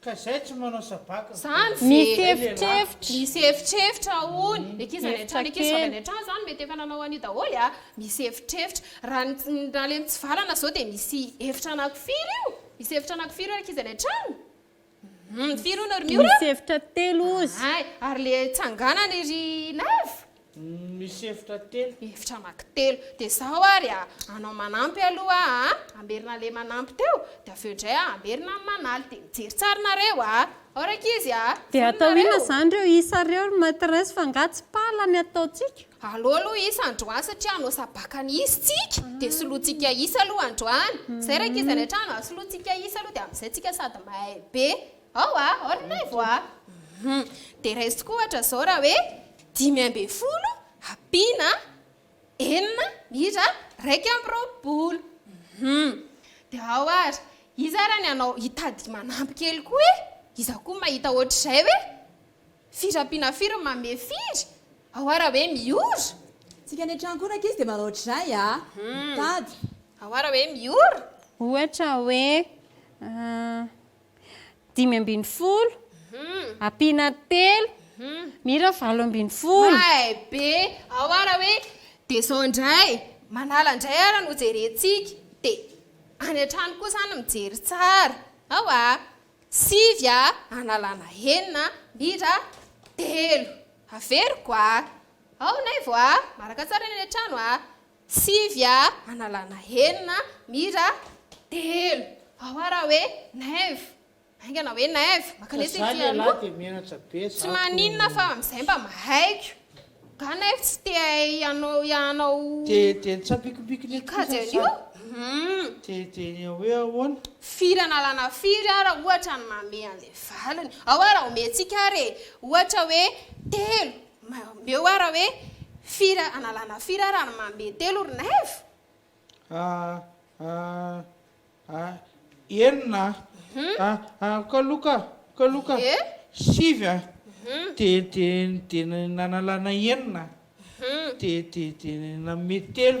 Ka zay tsy manao sabaka. Zany ve? Misy efitrefitra. Misy efitrefitra hono. Ny ankizy any an-trano, ny ankizy vavy any an-trano zany mety efa nanao an'io daholo a. Misy efitrefitra. Raha ny raha le mitsivalana zao dia misy efitra anaky firy io? Misy efitra anaky firy io ankizy any an-trano? Hum, firy hono ry Miora? Misy efitra telo ozy. Hay, ary le tsanganany ry Love? Misy efitra telo. Efitra amaky telo. Dia izao ary a, anao manampy aloha a, hamerina ilay manampy teo, dia avy eo indray a, hamerina ny manaly. Dia mijery tsara nareo a. Ao rankizy a. Dia atao inona izany ireo isa ireo ry maitresse fa angaha tsy pala ny ataontsika? Aleo aloha isa androany satria hanao sabaka ny isa tsika, dia solointsika isa aloha androany. Izay rankizy any an-trano a, solointsika isa aloha dia amin'izay tsika sady mahay be. Ao a! Orina aivo a! Hum. Dia raiso tokoa ohatra izao raha hoe dimy ambin'ny folo ampiana enina miitra iraika amby roapolo. Hum. Dia ao ary, iza ary ny anao hitady manampy kely koa e? Iza koa mahita ohatr'izay hoe firy ampiana firy no manome firy? Ao ary raha hoe miora? Tsika any an-trano koa rankizy dia manao ohatr'izay a! Mitady. Ao ary raha hoe miora? Ohatra hoe, ah. dimy ambin'ny folo ampiana telo mira valo ambin'ny folo may be ao ara hoe dia izao indray manala indray ara no jerentsika dia any an-trano koa izany mijery tsara ao a sivy a analana enina mira telo averiko a ao naivo a maraka tsara ny any an-trano a Sivy a analana enina mira telo ao ara hoe naivo haingana hoe naivo maka lesy ny fialoha tsy maninona fa amin'izay mba mahaiko ga naivo tsy te hianao hianao hikajy an'io hum firy analana firy ara ohatra ny mamehy an'ilay valiny ao ara omentsika ary e ohatra hoe telo Omeo ara hoe fira analana fira ara ny mandeha telo ry naivo? Ah ah ah enina ah ah kaloka kaloka sivy ah de de de nanalana enina de de de nanome telo.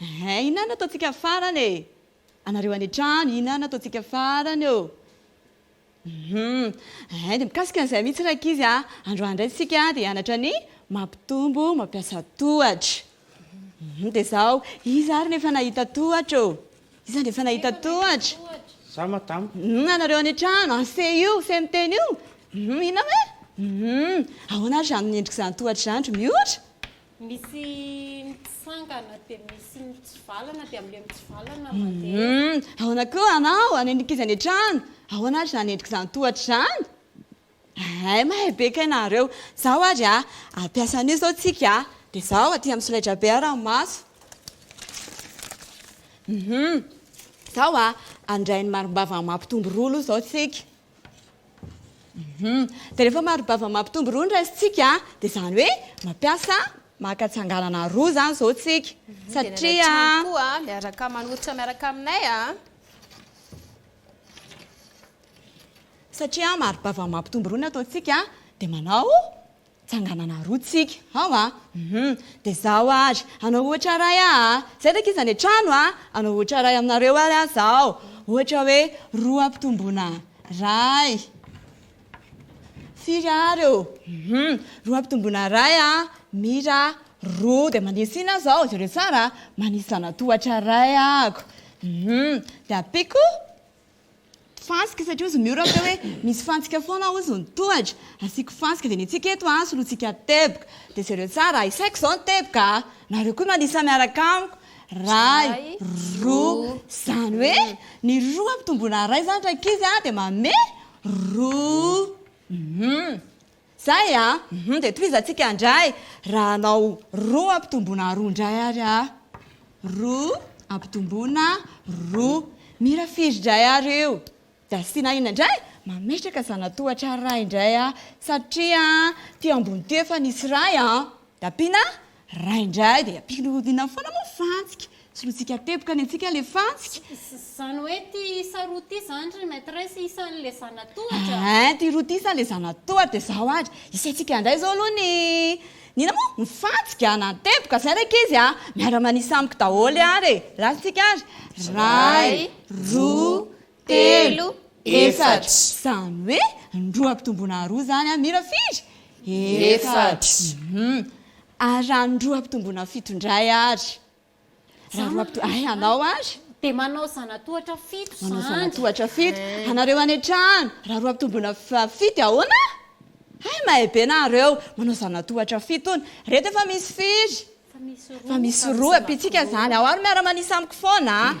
Ehe inona no ataontsika farany e? Anareo any an-trano inona no ataontsika farany ô? Hum ehe dia mikasika an'izay mihitsy rankizy a! Androany indray isika dia hianatra ny mampitombo mampiasa tohatra. Hum dia izao, iza ary no efa nahita tohatra ô? Iza no efa nahita tohatra? Za madama. Hum anareo any an-trano, ase io fe miteny io? Hum inona moa e? Hum ahoana ary izany ny endrik'izany tohatra izany ry mihoatra? Misy mitsangana dia misy mitsivalana dia amin'ilay mitsivalana mandeha. Hum, ahoana koa ianao? Any amin'ny ankizy any an-trano, ahoana ary izany endrika izany tohatra izany? Hay, mahay be kay nareo. Izao ary a, hampiasa an'io izao tsika a, dia izao aty amin'ny solaitrabe ary amin'ny maso. Hum, izao a, handray ny marimbavany mampitombo roa aloha izao tsika. Dia rehefa mari-bava mampitombo roa ny raisintsika dia izany hoe mampiasa maka tsanganana roa izany izao isika. Satria. Miaraka manoritra miaraka aminay a. Satria mari-bava mampitombo roa ny ataontsika dia manao. Tsanganana roa tsika ao a! Hum! Dia zaho ary hanao ohatra iray aho a! Izay ve ankizy any an-trano a! Hanao ohatra iray aminareo ary aho izao. Ohatra hoe roa ampitomboina iray. Firy àry ô? Hum! Roa ampitomboina iray a! Mira, roa. Dia manisy inona aho izao? Jereo tsara a! Manisy zanatohatra iray aho. Hum! Dia ampiako. Fantsika satria hozy Miora teo hoe misy fantsika foana hozy ny tohatra, asiako fantsika dia ny antsika eto an solointsika teboka dia jereo tsara, isaiko izao ny teboka a! nareo koa manisa miaraka amiko, ray, roa, izany hoe ny roa ampitomboina ray izany rankizy a dia manome roa, hum. Zay a! Hum dia tohizantsika indray raha hanao roa ampitomboina roa indray ary a! Roa ampitomboina roa. Mira firy indray ary io? Dia asiana inona indray? Mametraka zanatohatra iray indray aho satria aty ambony ity efa nisy iray a! Dia ampiana Raha indray dia ampihodinany foana moa fantsika, solointsika teboka ny antsika ilay fantsika. Izany hoe ity isa roa ity izany ry Maitresse isan'ilay zanatohatra? Hein, ity roa ity isan'ilay zanatohatra dia izao ary, isaintsika indray izao aloha ny, ny inona moa? ny fantsika na ny teboka, izay ilay ankizy a! miara-manisa amiko daholo ary e! Lalintsika ary, ray, roa, telo, efatra. Izany hoe roa ampitomboina roa izany an, mira firy? Efatra. Hum. Ary raha ny roa ampitomboina fito indray ary? Raha roa ampitomboina, hay anao ary? Dia manao zanatohatra fito izany. Manao zanatohatra fito. Anareo any an-trano, raha roa ampitomboina fito dia ahoana? Hay mahay be nareo, manao zanatohatra fito hono. Ireto efa misy firy? Efa misy roa. Efa misy roa. Ampitsika izany. Ao ary miara-manisa amiko foana an.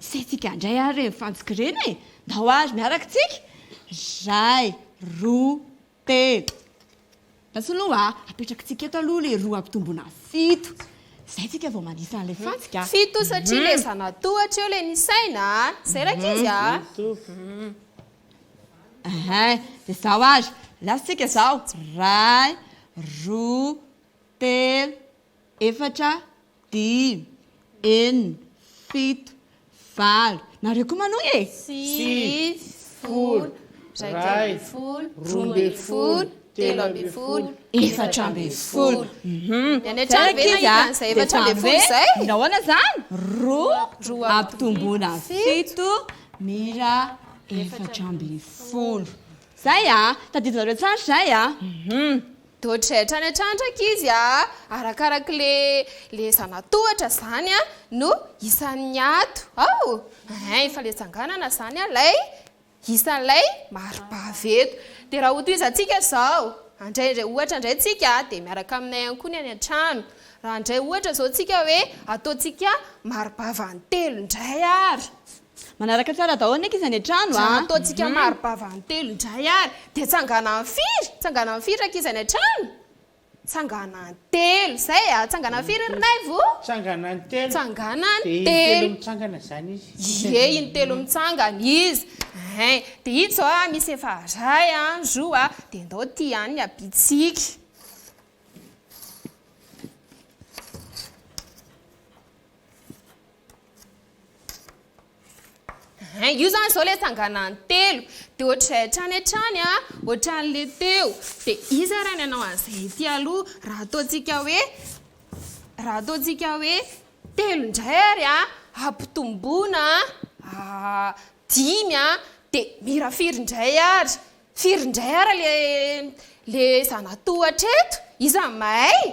Isaintsika indray ary ireny fantsika ireny e! Ndao ary miaraka tsika! Iray, roa, telo. Basy aloha a! Apetrakintsika eto aloha ilay roa ampitomboina fito. Izay tsika vao manisa an'ilay fantsika. Fito satria ilay zanatohatra eo ilay nisaina a! Izay rankizy a! Ehe, dia izao ary. Lasa tsika izao. Iray, roa, telo, efatra, Dimy, enina, fito, valo. Nareo koa manohy e! Sivy, folo, iraika ambin'ny folo, roa ambin'ny folo, telo ambin'ny folo, efatra ambin'ny folo. Ny any an-trano ve nahita an'izay efatra ambin'ny folo izay? Nahoana izany? Roa, roa ampitomboina fito, mira efatra ambin'ny folo. Izay a! Tadidinareo tsara izay a! Dodge hatrany hatrany rankizy a! Arakaraky le le zanatohatra zany a no isan'ny ato ao hein efa le tsanganana zany a lay isan'ilay maribavy eto de raha hotohizantsika zao andray indray ohatra indray tsika de miaraka aminay ihany koa ny any an-trano raha andray ohatra zao tsika hoe ataontsika maribavy any telo indray ary Manaraka tsara daholo ny ankizy any an-trano a! Raha ataontsika mari-bava an-telo indray ary dia tsanganan'ny firy? Tsanganan'ny firy rankizy any an-trano? Tsanganan'ny telo. Izay a! Tsanganan'ny firy ry Naivo o? Tsanganan'ny telo. Tsanganan'ny telo. Dia intelo mitsangana izany izy. Ie, intelo mitsangana izy. Ein! Dia ito izao a, misy efa iray a, roa a, dia ndao ity ihany ny habitsika. Hein, io zany zao le tsanganan'ny telo, de ohatr'izay hatrany hatrany an, ohatran'le teo, de iza ary ny hanao an'izay ety aloha, raha ataontsika hoe, raha ataontsika hoe telo indray ary an, ampitomboina dimy an, de mira firy indray ary, firy indray ary le le zana-tohatra eto, iza mahay?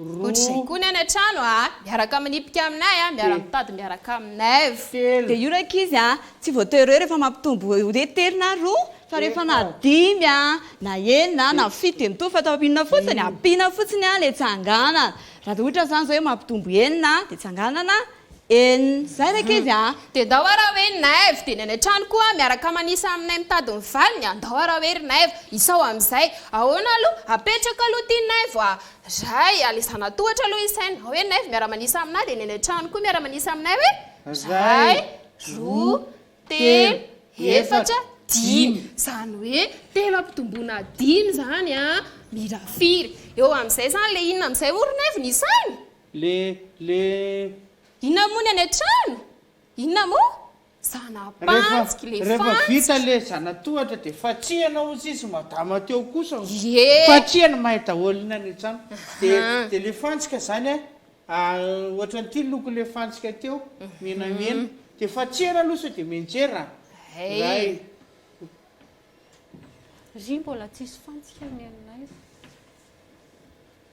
Ohatr'izay koa ny any an-trano a! Miaraka manipika aminay a! Miara-mitady miaraka aminay v. Dia io rankizy a! Tsy voatery hoe rehefa mampitombo hoe telo na roa fa rehefa na dimy a, na enina a, na fito dia mitovy fa atao inona fotsiny? Ampiana fotsiny a ilay tsanganana. Raha dia ohatra izany izao hoe mampitombo enina dia tsanganana Eny, zay ra kivy a! Dia ndao ara hoe i Naivo dia ny any an-trano koa miaraka manisa aminay mitady ny valiny a! Ndao ara hoe ry Naivo, isao amin'izay. Ahoana aloha? Apetraka aloha ity Naivo a! Ray, alezana tohatra aloha i Saina. Hoe Naivo miara-manisa aminay dia ny any an-trano koa miara-manisa aminay hoe, Ray, roa, telo, efatra, dimy. Izany hoe telo ampitomboina dimy izany a! Mira firy? Eo amin'izay izany le inona amin'izay hoy ry Naivo ny isany? Le, le. Inona moa ny any an-trano? Inona moa? Zana-pantsiky le fantsika. Rehefa vita le zana-tohatra dia fatsihana hozy izy madama teo kosa hono. Ie. Fatsihana mahay daholo ny any an-trano. Dia, dia le fantsika izany an, ohatran'ity loko le fantsika teo, menamena. Dia fatsihana aloha sao dia mianjera an. Ray. Ry mbola tsisy fantsika ny anay.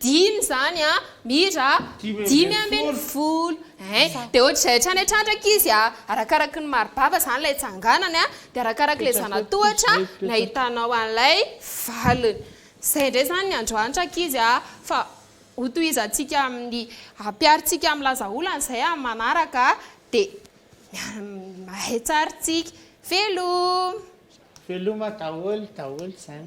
Dimy izany an! Mira a! Dimy ambin'ny folo ein! Dia ohatr'izay hatrany hatrany izy a! Arakaraky ny mari-bava izany ilay tsanganany an! Dia arakaraky ilay zana-tohatra nahitanao an'ilay valiny. Izay indray izany ny androany rankizy a! Fa hotohizantsika amin'ny, hampiharintsika amin'ny laza olana izay amin'ny manaraka dia mahay tsara isika. Veloma! Veloma daholo daholo izany.